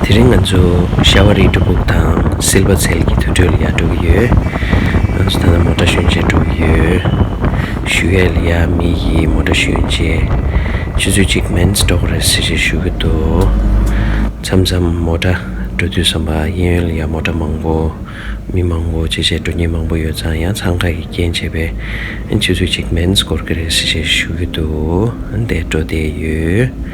དེ་རིང་ང་ཚོ་ཤྭ་བ་རིའི་འབྲུ་ཕུག་དང་སིལ་བ་ཚལ་གྱི་དུད་ཁྲོད་ལ་ཡར་འགྲོ་གི་ཡོད། ང་ཚོ་ད་ལྟ་མོ་ཏྲ་ཤུན་ཆད་འགྲོ་གི་ཡོད། ཞུ་ཡལ་ཡ་མི་ཡིས་མོ་ཏྲ་ཤུན་ཆད་ཆུ་ཚོད་གཅིག་མན་ཟ་འགྲོ་གི་རེད་ཟེར་ཞེས་ཞུ་གི་འདུག་མཚམས་མཚམས་མོ་ཏྲ་འགྲོ་དུས་བསམ་པ་གཡས་གཡོན་ཡར་མོ་ཏྲ་མང་པོ། མི་མང་པོ་བྱེད་བྱེད་འགྲོ་ཉེན་མང་པོ་ཡོད་ཙང་ཡང་འཚང་ཁ་གི་རྐྱེན་བྱས་པས་ཆུ་ཚོད་གཅིག་མན་ཟ་འགོར་གི་རེད་ཟེར་ཞེས་ཞུ་གི་འདུག་དེ་འགྲོ་བསྡད་ཡོད།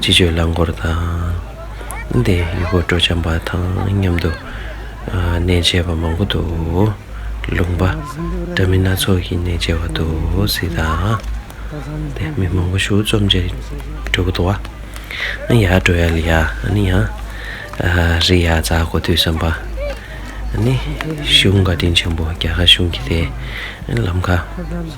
སྤྱི་སྤྱོད་རླངས་འཁོར་དང། དེ་ཡི་མགོ་སྤྲོད་བྱམས་པ་དང་མཉམ་དུ་གནས་མཇལ་བ་མང་པོ་འདུག་ལུང་པ། འདྲ་མིན་སྣ་ཚོགས་ཀྱིས་གནས་མཇལ་བ་འདུག་སྲིད་དང། དེ་མི་མང་པོ་ཞུགས་རྩོམ་མཇལ་འགྲོ་གི་འདུག་བ། ཡར་འགྲོ་ཡར་ལ་ཡར་ཨ་ནི་ཡང། རི་ཡར་འཛག་གོ་དུས་བསམ་པ། ནི། གཞུང་བཀའ་དྲིན་ཆེན་པོ་རྒྱ་གར་གཞུང་གི་དེ། ལམ་ཁ།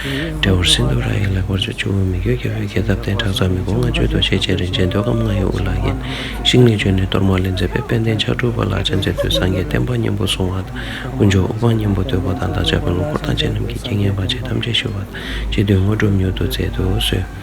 འབྲས་བུར་སིན་དྷུ་ར་ཡི་ལེགས་པར་ཆུ་བཅུ་བོའི་མི་བསྐྱོད་རྒྱལ་པོའི་རྒྱལ་ཐབས་བསྟན་བྲག་ཚ་མི་ཕོ་ལྔ་མཆོད་དོ་ཤེས་བྱའི་རིན་ཆེན་འདོད་ཁམས་ལྔ་ཡི་དབུ་ལག་རྒྱན་ཞིག་ནས་བྱོན་ནས་གཏོར་མ་ལས་མཛད་པའི་དཔལ་ལྡན་ཕྱག་དྲུག་པ་ལ་སྤྱན་འཚལ་དུས་སངས་རྒྱས་བསྟན་པ་གཉན་པོ་བཟུང་བ་དང་དཀོན་མཆོག་དབུ་འཕང་གཉན་པོ་བསྟོད་པ་དང་བདག་ཅག་གི་ལོ་འཁོར་ཐམས་ཅད་རྣམས་ཀྱི་རྐྱེན་ངན་བར་ཆད་ཐམས་ཅད་ཞི་བ་དང་བཅས་དོན་དངོས་སྒྲུབ་མྱུར་དུ་མཛད་དུ་གསོལ།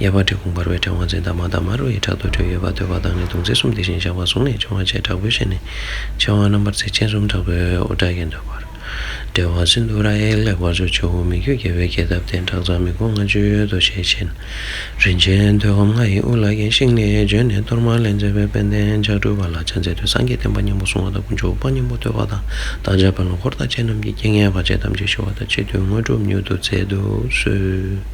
གཡས་པར་གྲི་གུག་འབར་བའི་ཕྲེང་བ་འཛིན་དང་མ་དང་མ་རུ་ཡི་དྲག་ཏུ་བྲོས་ཡོད་པ་འདོད་པ་དང་ནི་དུང་ཙེ་གསུམ་དེ་བཞིན་བཞག་པ་བཟུང་ནས་འཕྱོང་བ་བཅས་དྲག་པོའི་ཞལ་ནས་མཆེ་བ་རྣམ་པར་གཟེགས་སྤྱན་གསུམ་དྲག་པོའི་འོད་བཀྲ་ཡི་འདོད་པར་བྲེལ་བ་སིནྡྷུ་ར་ཨེ་ལེགས་པར་བཟོ་བྱའོ་མི་བསྐྱོད་རྒྱལ་བའི་རྒྱལ་ཐབས་སྟེང་བྲག་ཚང་མི་མགོ་ལྔ་བཅུའི་ཡོལ་དུ་ཞལ་ཆེམས་རིན་ཆེན་ཐོད་སྐམ་ལྔ་ཡི་དབུ་ལ་གྱེན་ཤིང་ལས་བྱོན་ནས་གཏོར་མ་ལས་མཛད་པའི་དཔལ་ལྡན་ལྕགས་སྤྲུལ་པ་ལ་ཕྱག་འཚལ་དུས་སངས་རྒྱས་བསྟན་པ་སྙིང་པོ་གསུང་བ་དང་དཀོན་མཆོག་དབུ་བ་སྙིང་པོ་བསྟོད་པ་དང་བདག་ཅག་བོན་ལོ་འཁོར་བདག་བཅས་རྣམས་ཀྱི་རྐྱེན་ངན་བར་ཆད་ཐམས་ཅད་ཞི་བ་དང་ཕྱི་དུས་དངོས་གྲུབ་མྱུར་དུ་བསྩལ་དུ་གསོལ།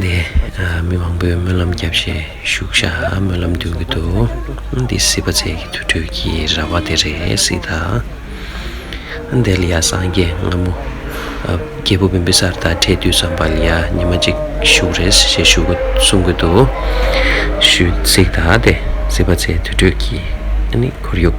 འདི་མི་མང་པོས་སྨོན་ལམ་བརྒྱབ་བཞིན་བཞུགས་ཤག་སྨོན་ལམ་འདོན་གྱི་འདུག་འདི་སྲིད་པ་བརྩེགས་ཀྱི་དུར་ཁྲོད་ཀྱི་ར་བ་དེ་རེད་སྲིད་ད། འདི་ལ་ཡང་སངས་རྒྱས་སྔ་མོ་རྒྱལ་པོ་བིམ་པི་སར་དང་འཕྲད་དུས་སམ་བྷ་ལི་ཡ་ཉི་མ་གཅིག་བཞུགས་རེད་ཞེས་གསུངས་གི་འདུག་ཞུས་སྲིད་ད། འདི་སྲིད་པ་བརྩེགས་དུར་ཁྲོད་ཀྱི་ཁོར་ཡུག།